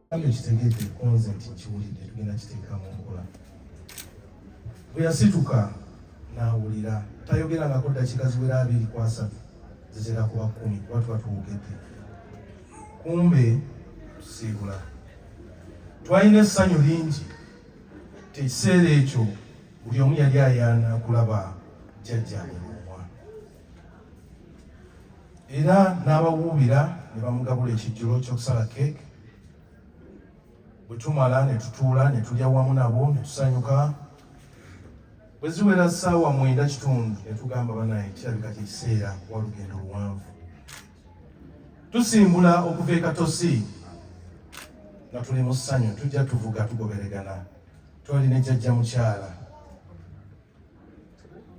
Kale kitegeete konze nti nkiwulidde tugenda kiteeka mu nkola. Bwe yasituka n'awulira tayogera ngako ddakiika ziwera abiri ku asatu zizira kuba kkumi kuba tuba tuwugedde. Kumbe tusiibula. Twalina essanyu lingi nti ekiseera ekyo buli omu yali ayaana kulaba jjajja. era n'abawuubira ne bamugabula ekijjulo ky'okusala keeke bwe tumala ne tutuula ne tulya wamu nabo ne tusanyuka bwe ziwera ssaawa mwenda kitundu ne tugamba banaye kirabika kye kiseera kuba lugendo luwanvu tusimbula okuva ekatosi nga tuli mu ssanyu tujja tuvuga tugoberegana twali ne jajja mukyala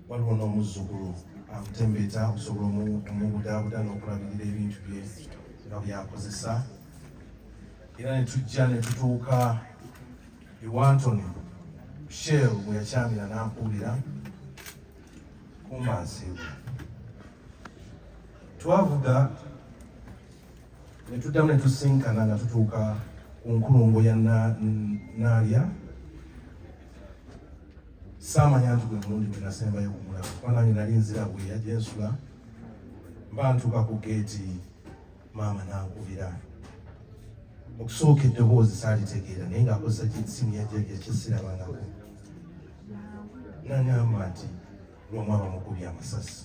waliwo n'omuzzukulu amutembeeta okusobola omubudaabuda n'okulabirira ebintu bye nga byakozesa era ne tujja ne tutuuka ewantoni shell bwe yakyamira n'ampuulira kumba nsiibwa twavuga ne tuddamu ne tusinkana nga tutuuka ku nkulungo ya naalya na, na, saamanya nti gwe mulundi gwe nasembayo kumulaba kuba nange nali nzira bwe yajja ensula mba ntuuka ku geeti maama nankubira okusooka eddoboozi saalitegeera naye ng'akozesa kyesimu yakyesirabangako nangamba nti lwomwaba mukubi amasasi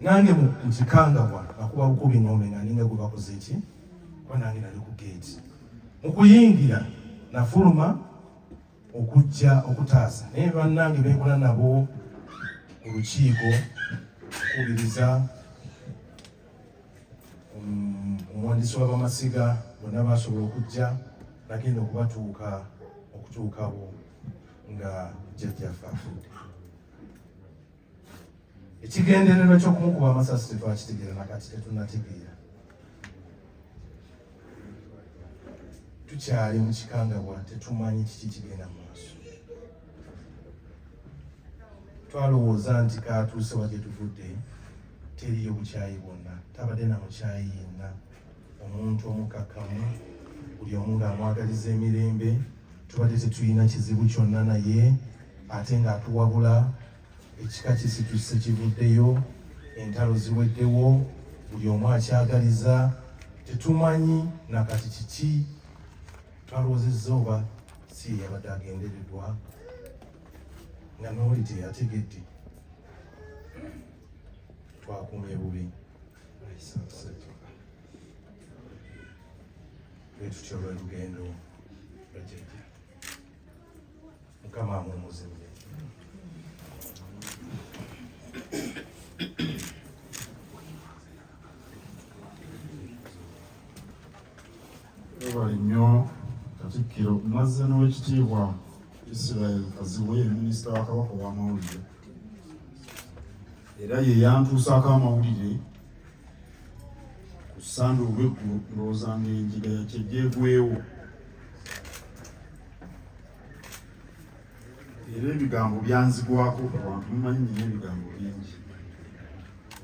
nange mukikangabwa akuba bukubi ngombe nga ninga gwe bakoze ki kuba nange nali ku geeti mu kuyingira nafuluma okujja okutaasa naye bannange beekola nabo olukiiko okubiriza um, omuwandiisi w'abamasiga bonna basobola okujja nagenda okubatuuka okutuukawo nga jjajjaffe afudde ekigendererwa ky'okumukuba amasasi tetwakitegeera nakati tetunategeera tukyali mu kikangabwa tetumanyi kiki kigenda mu maaso twalowooza nti katuuse wa gyetuvudde teriyo bukyayi bwonna tabadde na mukyayi yenna omuntu omukakkamu buli omu ng'amwagaliza emirembe tubadde tetulina kizibu kyonna naye ate ng'atuwabula ekika kisituse kivuddeyo entalo ziweddewo buli omu akyagaliza tetumanyi nakati kiki twalowoozezza oba si yeyabadde agenderedwa nga nooli teyategedde twakumye bubi Bwetutyo lwe lugendo lwajjajja mukama amumuzimbe webale nnyo katikkiro mazze n'owekitiibwa israel kazibwe ye minisita wa kabaka ow'amawulire era ye yantuusaako amawulire ku ssande olweggulo ndowooza nga enjiga yakyegyegwewo era ebigambo byanzigwako abantu mumanyi nina ebigambo bingi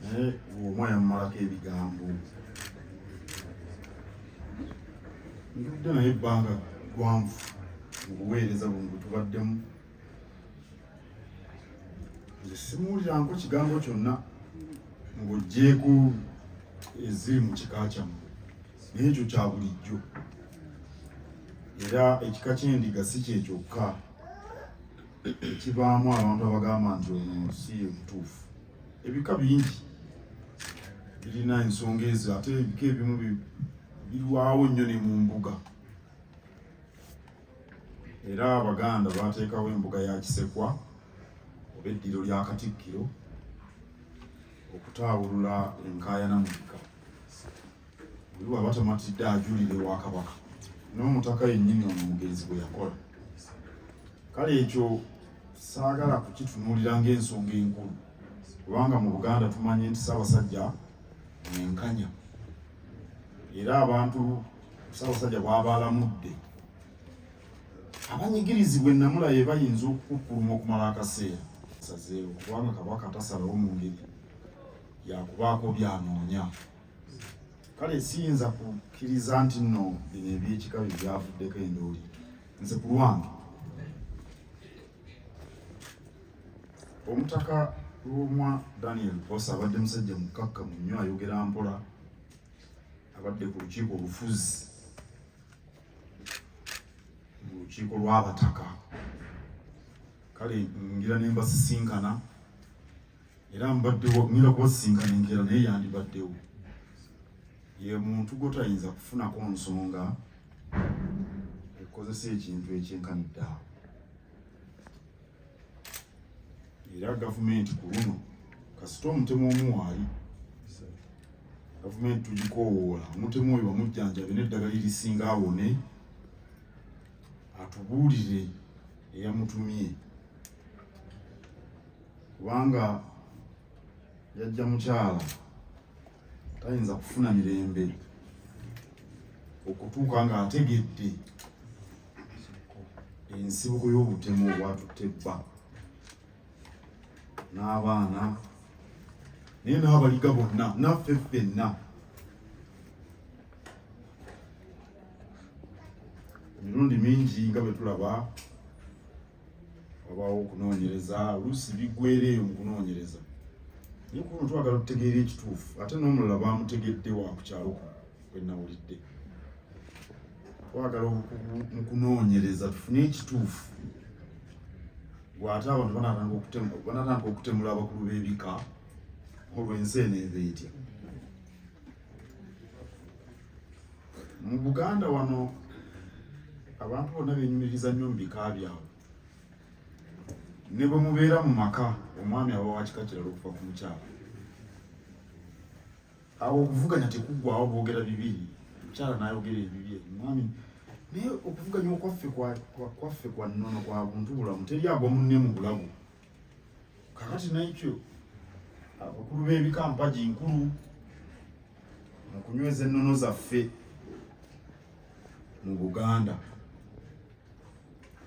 naye omwana mumalako ebigambo ntudde naye ebbanga gwanvu mu buweereza buno bwetubaddemu nze simuwuliranko kigambo kyonna ng'oggyeeko eziri mu kika kyammwe naye ekyo kya bulijjo era ekika ky'endiga si kye kyokka ekibaamu abantu abagamba nti ono si ebutuufu ebika bingi birina ensonga ezo ate ebika ebimu birwawo nnyo ne mu mbuga era abaganda baateekawo embuga ya kisekwa oba eddiro lya katikkiro okutaawulula enkaayana mu bika oli bwaba tamatidde ajulire wa kabaka n'omutaka yennyini ono omugenzi bwe yakola kale ekyo saagala kukitunuulira ng'ensonga enkulu kubanga mu buganda tumanye nti ssaabasajja mwenkanya era abantu ssaabasajja bwaba alamudde abanyigirizibwa ennamula ye bayinza okukukkuluma okumala akaseera sazeewo kubanga kabaka tasalawo mu ngeri yakubaako byanoonya kale siyinza kukkiriza nti nno bino ebyekika bye byavuddeko endooli nze ku lwange omutaka lwomwa daniel bosa abadde musajja mukkakkamu nnyo ayogera mpola abadde ku lukiiko olufuzi mu lukiiko lw'abataka kale ngira ne mbasisinkana era mbaddewo ngenda kubasisinkana enkeera naye yandibaddewo ye muntu gwotayinza kufunako nsonga ekozesa ekintu ekyenkanidde awo era gavumenti ku luno kasita omutemu omu waali gavumenti tugikoowoola omutemu oyo bamujjanjabe n'eddagala erisinga awone atubuulire eyamutumye kubanga yajja mukyala tayinza kufuna mirembe okutuuka ng'ategedde ensibuko y'obutemu obwatutte bba n'abaana naye n'abaliga bonna naffe ffenna emirundi mingi nga bwe tulaba wabaawo okunoonyereza oluusi biggwera eyo mu kunoonyereza naye kuno twagala okutegeera ekituufu ate n'omulala baamutegedde wa ku kyalo kuno kwe nawulidde twagala mu kunoonyereza tufune ekituufu gwate abantu banatandika okutemula abakulu b'ebika olw'ensi eno eva etya mu Buganda wano abantu bonna benyumiriza nnyo mu bika byabwe ne bwe mubeera mu maka omwami aba wakika kirala okuva ku mukyala awo okuvuganya tekuggwawo boogera bibiri omukyala nayogera ebibye omwami naye okuvuganya okwaffe kwaffe kwa nnono kwa buntu bulamu teri agwa munne mu bulamu kakati naekyo abakulu b'ebika mpagi nkulu mu kunyweza ennono zaffe mu buganda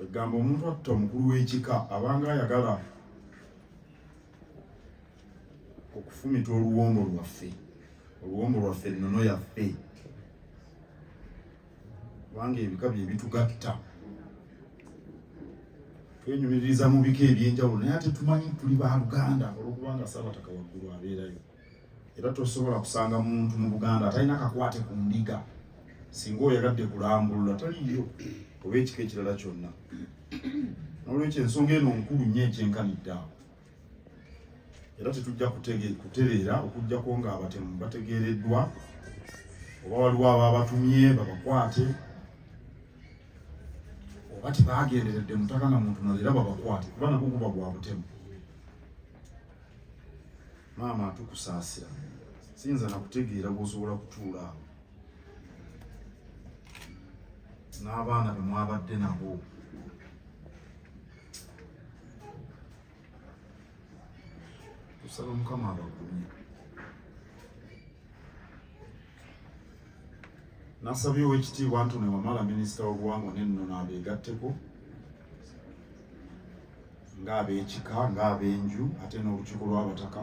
egamba omuntu atta omukulu w'ekika abanga ayagala okufumita oluwombo lwaffe oluwombo lwaffe ennono yaffe kubanga ebika bye bitugatta twenyumiririza mu bika ebyenjawulo naye ate tumanyi tuli ba luganda olwokubanga saabataka waggulu abeerayo era tosobola kusanga muntu mu buganda atalina kakwate ku ndiga singa oyagadde kulambulula taliyo oba ekika ekirala kyonna nolwekyo ensonga eno nkulu nnyo ekyenkanidde awo era tetujja kutereera okujjako ng'abatemu bategeereddwa oba waliwo ababatumye babakwate oba tebagenderedde mutaka na muntu nalo era babakwate kuba nagwo guba gwa butemu maama atukusaasira siyinza nakutegeera gwosobola kutuula awo n'abaana bemwabadde nabo tusaba mukama abagumye nasabye owekitiibwa ntone wamala minisita w'obuwangwa n'ennono abeegatteko ng'abekika ng'abenju ate n'olukiiko lw'abataka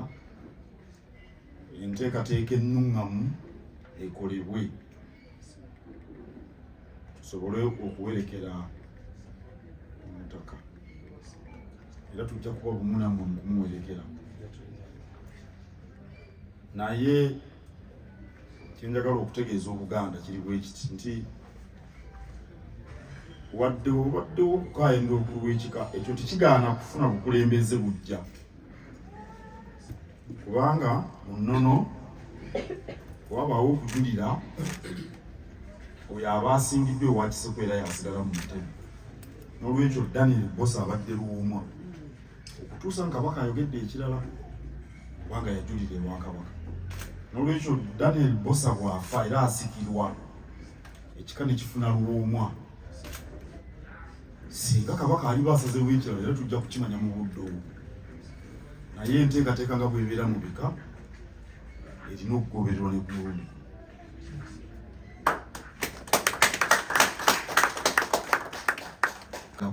enteekateeka ennuŋŋamu ekolebwe tusobole okuwerekera omutaka era tujja kuba bumu namwe mukumuwerekera naye kyenjagala okutegeeza obuganda kiri bwekiti nti wadde obaddewo okukayenda okulwekika ekyo tekigaana kufuna bukulembeze bujja kubanga mu nnono wabaawo okujulira oyo aba asingiddwa ewa kiseko era yasigala mu ntebe n'olwekyo daniel bosa abadde luwuuma okutuusa nga kabaka ayogedde ekirala kubanga yajulira ewa kabaka n'olwekyo daniel bosa bw'afa era asikirwa ekika ne kifuna luwoomwa singa kabaka aliba asazeewo ekirala era tujja kukimanya mu budde obwo naye enteekateeka nga bwebeera mu bika erina okugobererwa ne kumulundi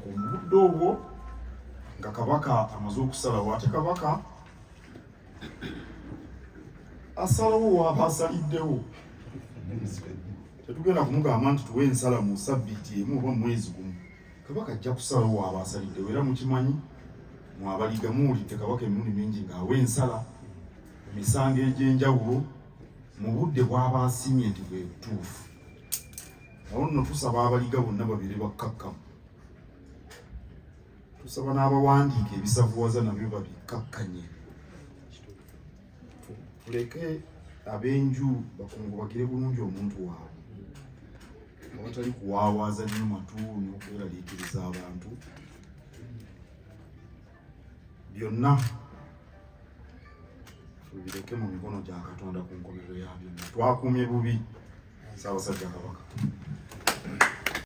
ku mubudde obwo nga kabaka amaze okusalawo ate kabaka asalawo waaba asaliddewo tetugenda kumugamba nti tuwe ensala mu sabbiiti emu oba mumwezi gumu kabaka ajja kusalawo waaba asaliddewo era mukimanyi mwabaliga muwulidde kabaka emirundi mingi ng'awa ensala emisango egy'enjawulo mu budde bwaba asiimye nti bwe butuufu awo nno tusaba abaliga bonna babeere bakkakkamu tusaba n'abawandiika ebisavuwaza nabyo babikakkanye tuleke ab'enju bakungubagire bulungi omuntu waabwe awatali kuwaawaaza nnyo matu n'okweraliikiriza abantu byonna tubireke mu mikono gya katonda ku nkomerero ya byonna twakuumye bubi saabasajja kabaka